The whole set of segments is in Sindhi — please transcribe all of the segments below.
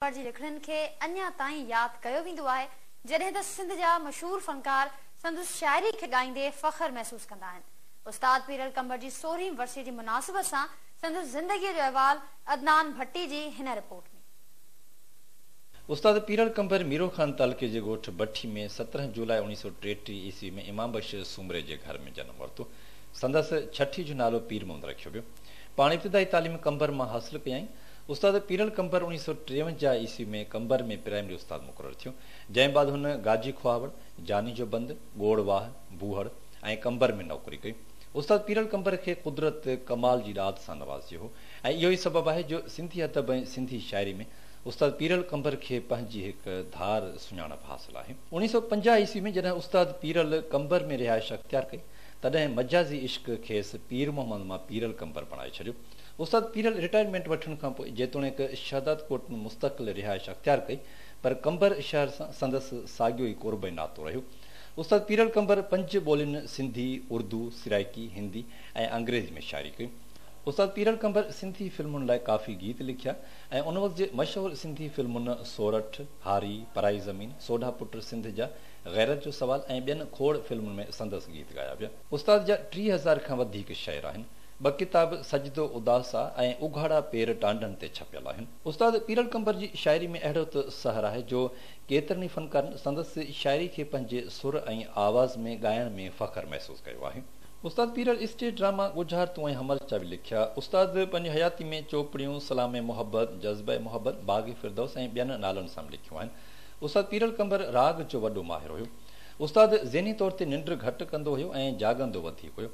پر جي لکڻين کي اڃا تائين ياد ڪيو ويندو آهي، جڏهن ته سنڌ جا مشهور فنڪار سندس شاعري کي ڳائيندي فخر محسوس ڪندا آهن. استاد پيرل قمبر جي سورهين ورسيء جي مناسبت سان سندس زندگيء جو احوال عدنان ڀٽي جي هن رپورٽ ۾. استاد پيرل قمبر ميرو خان تعلقي جي ڳوٺ بٺي ۾ سترهن جولاء اوڻيهه سؤ ٽيٽيهه عيسوي ۾ امام بخش سومري جي گهر ۾ جنم ورتو. سندس ڇٺي جو نالو پير محمد رکيو ويو. پاڻ ابتدائي تعليم قمبر مان حاصل ڪيائين. استاد پيرل قمبر اڻيهه سؤ ٽيونجاهه عيسوي ۾ قمبر ۾ پرائمري استاد مقرر ٿيو، جنهن بعد هن گاجي کهاوڙ، جاني جو بند، ڳوڙ واهه، بوهڙ ۽ قمبر ۾ نوڪري ڪئي. استاد پيرل قمبر کي قدرت ڪمال جي ڏات سان نوازيو هو ۽ اهو ئي سبب آهي جو سنڌي ادب ۽ سنڌي شاعري ۾ استاد پيرل قمبر کي پنهنجي هڪ ڌار سڃاڻپ حاصل آهي. اڻيهه سؤ پنجاهه عيسوي ۾ جڏهن استاد پيرل قمبر ۾ رهائش اختيار ڪئي، تڏهن مجازي عشق کيس پير محمد مان پيرل قمبر بڻائي ڇڏيو. استاد پيرل رٽائرمينٽ وٺڻ کان پوء جيتوڻيڪ شهداد ڪوٽ ۾ مستقل رهائش اختيار ڪئي پر قمبر شهر سان سندس ساڳيو ئي قرب ۽ ناتو رهيو. استاد پيرل قمبر پنج ٻولين سنڌي، اردو، سرائڪي، هندي ۽ انگريزي ۾ شاعري ڪئي. استاد پيرل قمبر سنڌي فلمن لاء ڪافي گيت لکيا ۽ ان وقت جي مشهور سنڌي فلمن سورٺ، هاري، پرائي زمين، سوڍا پٽ سنڌ جا، غيرت جو سوال ۽ ٻين کوڙ فلمن ۾ سندس گيت ڳايا ويا. استاد جا ٽيهه هزار کان وڌيڪ شعر آهن. ٻه ڪتاب سجدو اداس آ ۽ اگهاڙا پير ٽانڊن تي ڇپيل آهن. استاد پيرل قنبر جي شاعري ۾ اهڙو ته سحر آهي جو ڪيترن ئي فنڪارن سندس شاعري کي پنهنجي سر ۽ آواز ۾ ڳائڻ ۾ فخر محسوس ڪيو آهي. استاد پيرل اسٽيج ڊراما ڳجهار تون ۽ حمل چاوي لکيا. استاد پنهنجي حياتي ۾ چوپڙيون، سلام محبت، جذبه محبت، باغ فردوس ۽ ٻين نالن سان به لکيون آهن. استاد پيرل قنبر راڳ جو وڏو ماهر هيو. استاد ذهني طور تي ننڊ گهٽ ڪندو هيو ۽ جاڳندو وڌيڪ هيو.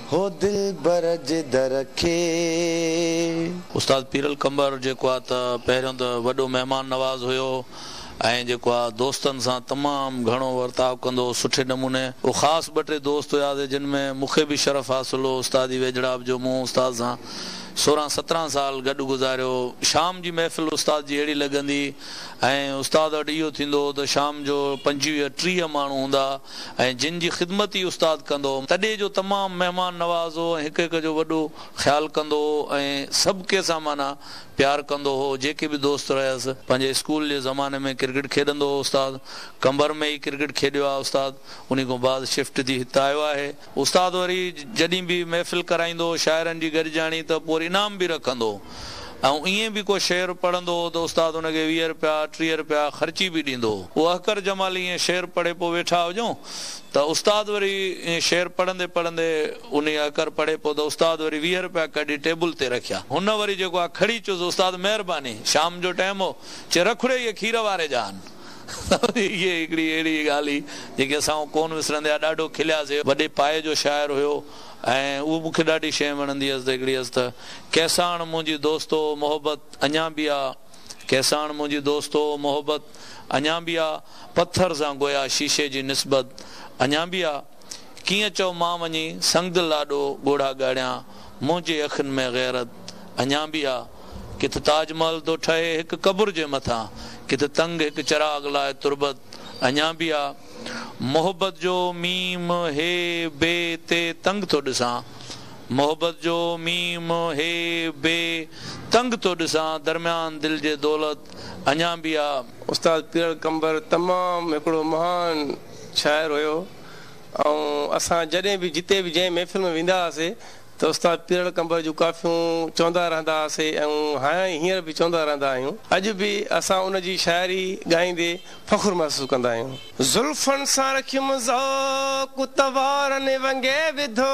هو دلبر جي در کي. استاد پيرل قنبر جيڪو آ ته پهريون ته وڏو مهمان نواز هيو ۽ جيڪو آ دوستن سان تمام گهڻو ورتاء ڪندو هو سٺي نموني او خاص ٻه ٽي دوست هياسي جن ۾ مونکي به شرف حاصل هو استادي ويجهڙائپ جو مون استاد سان سورهن سترهن سال گڏ گذاريو شام جي محفل استاد جي اهڙي لڳندي ۽ استاد وٽ اهو ٿيندو هو ته شام جو پنجويهه ٽيهه ماڻهو هوندا ۽ جن جي خدمت ئي استاد ڪندو هو. تڏي جو تمام مهمان نواز هو ۽ هڪ هڪ جو وڏو خيال ڪندو هو ۽ سڀ ڪي سان معنيٰ پيار ڪندو هو. جيڪي به دوست رهيس. پنهنجي اسڪول جي زماني ۾ ڪرڪيٽ کيڏندو هو استاد. قمبر ۾ ئي ڪرڪيٽ کيڏيو آهي استاد. انهي کان بعد شفٽ ٿي هت آيو آهي. استاد وري جڏھن به محفل ڪرائيندو ھو شاعرن جي گڏجاڻي ته پوء انعام به رکندو ھو ۽ ائين به ڪو شعر پڙھندو ھو ته استاد ان کي ويھه رپيا ٽيھه رپيا خرچي به ڏيندو ھو پوء احقر جمالي ائين شعر پڙھي پوء ويٺا ھجون ته استاد وري ائين شعر پڙھندي پڙھندي انھي احقر پڙھي پوء ته استاد وري ويھه رپيا ڪڍي ٽيبل تي رکيا ھن وري جيڪو آ کڙي چيس استاد مھرباني شام جو ٽيم ھو چي رکڙي اھي کير واري جا آھن هيء هڪڙي اهڙي ڳالهه هئي، جنهن کي اسان ڪونه وسرندي آ. ڏاڍو کلياسين. وڏي پايي جو شاعر هيو ۽ اهو مون کي ڏاڍي شيء وڻندي هيس ته هڪڙي هيس ته، ڪيساڻ منهنجي دوستو محبت اڃا به آ، ڪيساڻ منهنجي دوستو محبت اڃا به آ، پٿر سان گويا شيشي جي نسبت اڃا به آ. ڪيئن چئو مان وڃي سنگدل لاڏو ڳوڙها ڳاڙيان منهنجي اکين ۾ غيرت اڃان به آ ڪٿ تاج محل ٿو ٺهي هڪ قبر جي مٿان ڪٿ تنگ هڪ چراغ لاء تربت اڃان به آ محبت جو ميم هي بي تي تنگ ٿو ڏسان محبت جو ميم هي بي تنگ ٿو ڏسان درميان دل جي دولت اڃان به آ. استاد پيرل قمبر تمام هڪڙو مهان. شاعر هيو ۽ اسان جڏهن به جتي به جنهن محفل ۾ ويندا هئاسي ته استاد پيرڙ ڪنڀر جون ڪافيون چوندا رهندا هئاسي ۽ هائين هينئر به چوندا رهندا آهيون. اڄ به اسان ان جي شاعري ڳائيندي فخر محسوس ڪندا آهيون. زلفن سان رکيم ذوق ته وارن ونگي وڌو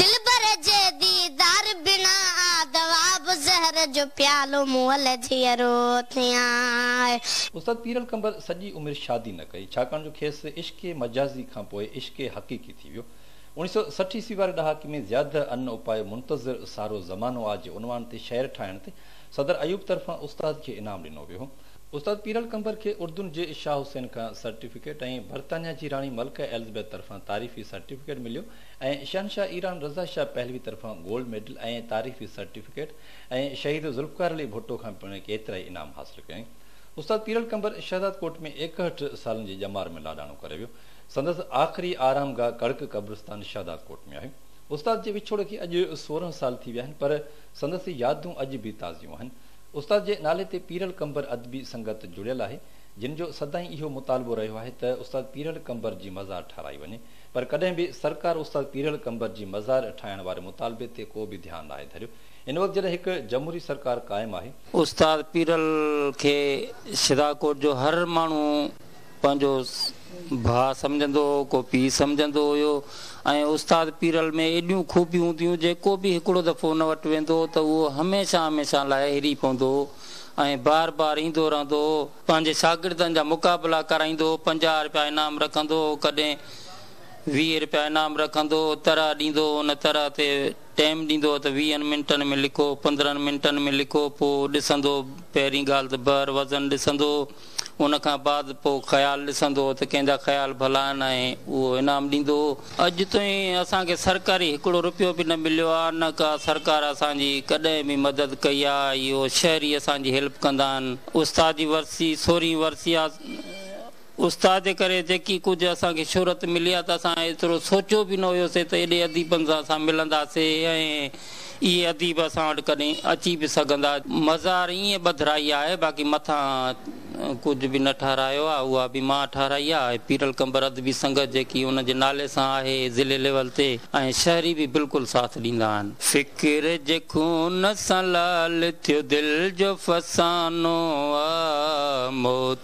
دلبر جي ديدار بنا آ دوا به زهر جو پيالو مئل جيئرو ٿيان. استاد پيرل قنبر سڄي عمر شادي نه ڪئي، ڇاڪاڻ جو کيس عشق مجازي کان پوء عشق حقيقي ٿي ويو. اوڻيھ سؤ سٺ عيسوي واري ڏهاڪي ۾ زياده ان اپائي منتظر سارو زمانو آ جي عنوان تي شعر ٺاهڻ تي صدر ايوب طرفان استاد کي انعام ڏنو ويو هو. استاد پيرل قنبر کي اردن جي شاهه حسين کان سرٽيفڪيٽ ۽ برطانيا جي راڻي ملڪه ايلزبيٿ طرفان تعريفي سرٽيفڪيٽ مليو. ۽ شهنشاهه ايران رضا شاهه پهلوي طرفان گولڊ ميڊل ۽ تعريفي سرٽيفڪيٽ ۽ شهيد ذوالفقار علي ڀٽو کان پڻ ڪيترائي انعام حاصل ڪيائين. استاد پيرل قنبر شهزاد ڪوٽ ۾ ايڪهٺ سالن جي ڄمار ۾ لاڏاڻو ڪري ويو. سندس آخري آرام گاهه ڪڙڪ قبرستان شهداد ڪوٽ ۾ آهي. استاد جي وڇوڙ کي اڄ سورهن سال ٿي ويا آهن پر سندس يادون اڄ به تازيون آهن. استاد جي نالي تي پيرل قنبر ادبي سنگت جڙيل آهي جن جو سدائين اهو مطالبو رهيو آهي ته استاد پيرل قنبر جي مزار ٺهرائي وڃي. پر ڪڏهن به سرڪار استاد پيرل قمبر جي مزار ٺاهڻ واري مطالبي تي ڪو به ڌيان ناهي ڌريو. هن وقت جڏهن هڪ جمهوري سرڪار قائم آهي. استاد پيرل کي شيداڪوٽ جو هر ماڻهو پنهنجو ڀاء سمجهندو هو، ڪو پيء سمجهندو هيو ۽ استاد پيرل ۾ ايڏيون خوبيون هونديون جيڪو به هڪڙو دفعو ان وٽ ويندو هو ته اهو هميشه هميشه لاء هري پوندو هو ۽ بار بار ايندو رهندو هو. پنهنجي شاگردن جا مقابلا ڪرائيندو هو، پنجاهه رپيا انعام رکندو هو، ڪڏهن ويهه رپيا انعام رکندو هو، طرح ڏيندو هو، ان طرح تي ٽيم ڏيندو هو ته ويهن منٽن ۾ لکو، پندرهن منٽن ۾ لکو، پوء ڏسندو هو، پهرين ڳالهه ته بحر وزن ڏسندو هو، ان کان بعد پوء خيال ڏسندو هو ته ڪنهن جا خيال ڀلا آهن ۽ اهو انعام ڏيندو هو. اڄ تائين اسان کي سرڪاري هڪڙو رپيو به نه مليو آ نه ڪا سرڪار اسان جي ڪڏهن به مدد ڪئي آ اهو شهري اسان جي هيلپ ڪندا آهن استاد جي ورسي سورهين ورسي آ استاد جي ڪري جيڪي ڪجهه اسان کي شهرت ملي آ ته اسان ايترو سوچيو به نه هيو سي ته ايڏي اديبن سان اسان ملندا سي ۽ اهي اديب اسان وٽ ڪڏهن اچي به سگهندا. مزار ائين ٻڌرائي آهي باقي مٿان ڪجهه به نه ٺهرايو آهي اها به مان ٺهرائي آهي پيرل قمبر ادبي سنگت جيڪي ان جي نالي سان آهي ضلعي ليول تي ۽ شهري به بلڪل ساٿ ڏيندا آهن. فڪر جي خون سان لعل ٿيو دل جو فسانو آ مون